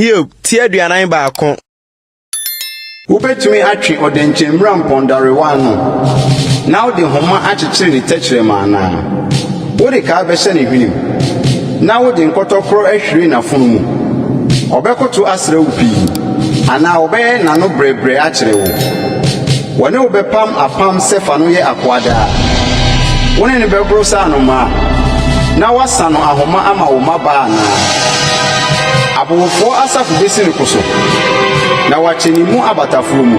Hiob ti aduanan baako. Wobɛtumi atwe ɔdɛnkyɛmmira mpɔndarewa ano na wode nhoma akyekyere ne tɛkyerɛma anaa? Wode kaa bɛhyɛ ne hwenem na wode nkɔtɔkorɔ ahwire n'afono mu? Ɔbɛkoto asrɛ wo pii anaa ɔbɛyɛ n'ano brɛbrɛ akyerɛ wo? Wɔne wo bɛpam apam sɛ fa no yɛ akoa daa. Wo ne no bɛgoro sɛ anomaa, na woasa no ahoma ama wo mmabaa anaa? Abowofoɔ asafo bɛsi ne ko so, na wɔakyɛ ne mu abatafoɔ mu.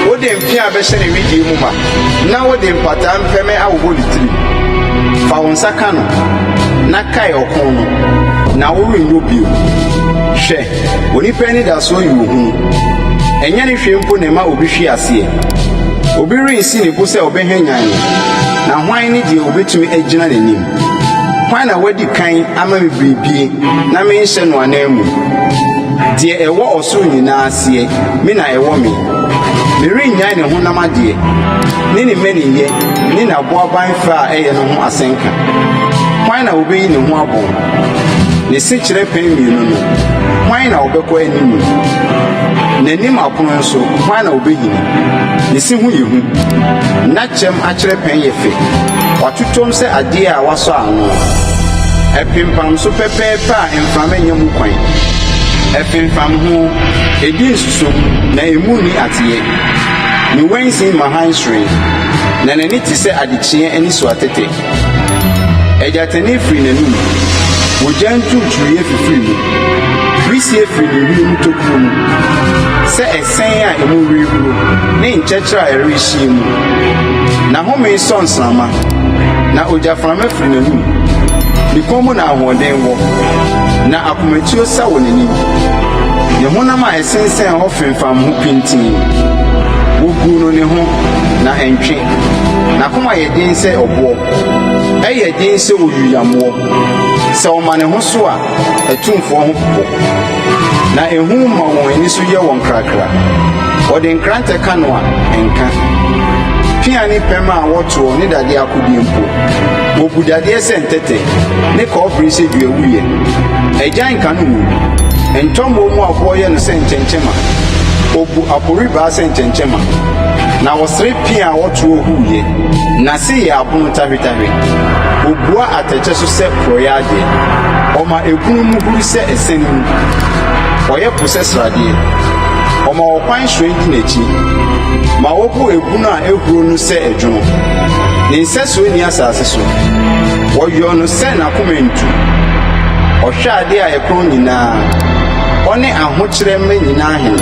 Wode mpea bɛhyɛ ne wedeɛ mu ma, na wode mpataa mpɛmɛ awowɔ ne tirim. Fa wo nsa ka no, na kae ɔko no, na worenyɔ bio. Hwɛ! Onipa anidasoɔ yɛ ohunu. Ɛnyɛ ne hwee mpo na ɛma obi hwe aseɛ. Obi rensi ne bo sɛ ɔbɛhwanyan no, na hwan ne deɛ ɔbɛtumi agyina n'anim? Hwan na wadi kan ama me biribi na menhyɛ no ananmu? Deɛ ɛwɔ ɔsoro nyinaa aseɛ, me na ɛwɔ me. Merennyae ne honam adeɛ, ne ne mmaninyɛ ne n'aboaban fɛ a ɛyɛ no ho asɛnka. Hwan na ɔbɛyi ne ho abɔ? Ne sekyerɛ pɛn mmienu no, hwan na ɔbɛkɔ anim? N'anim apono nso, hwan na ɔbɛnyini? Ne se ho yɛ hu. Na kyɛm akyerɛ pɛn yɛ fɛ. Watotom sɛ adeɛ a wɔasɔ ano. Ɛpempam so pɛpɛɛpɛ a mframa nnya mu kwan. Ɛfemfam ho, ɛdi nsusom, na emu nni ateɛ. Ne wansin ma hann hyerɛn, na n'ani te sɛ adekyeɛ anisoatete. Ɛgyatani firi n'anom, ogya nturuturuiɛ fifiri mu, wisie firi ne wiem tokuro mu. Sɛ ɛsɛn a emu rehuro ne nkyɛkyerɛ a ɛrehyia mu, n'ahome sɔ nsramma, na ogyaframa firi n'anom. Ne kɔn mu na ahoɔden wɔ, na akomatuo sa wɔ n'anim. Ne honam a ɛsensɛn hɔ femfam ho pintinn, woguu no ne ho, na ɛntwe. N'akoma yɛ den sɛ ɔboɔ, ɛyɛ den sɛ oyuyammoɔ. Sɛ ɔma ne ho so a, atumfoɔ ho popo, na ehu ma wɔn ani so yɛ wɔn krakra. Wɔde nkrantɛ ka no a, ɛnka. Pea ne pɛm a wɔtoɔ ne dadeɛ akodeɛ mpo, wobu dadeɛ sɛ ntɛtɛ, ne kɔbere sɛ duawuiɛ. Agyan ka no ngo, ntɔmmɔɔ mu aboɔ yɛ no sɛ nkyɛnkyɛma, obu aporibaa sɛ nkyɛnkyɛma. Na wɔsere pea a wɔtoɔ huiɛ. N'ase yɛ apono tahwetahwe. Ɔbua atɛkyɛ so sɛ porɔeɛ adeɛ. Ɔma ɛpono mu huru sɛ asiane mu. Ɔyɛ po sɛ sradeɛ. Ɔma ɔkwan hyerɛn di n'akyi. Ma wɔbɔ ɛbunu a ɛhuro no sɛ ɛdwono. Ne nsɛsoɔ nni asase so. Wɔyɔ no sɛ n'akoma antu. Ɔhwɛ adeɛ a ɛkorɔn nyinaa. Ɔne ahokyerɛ mma nyinaa hene.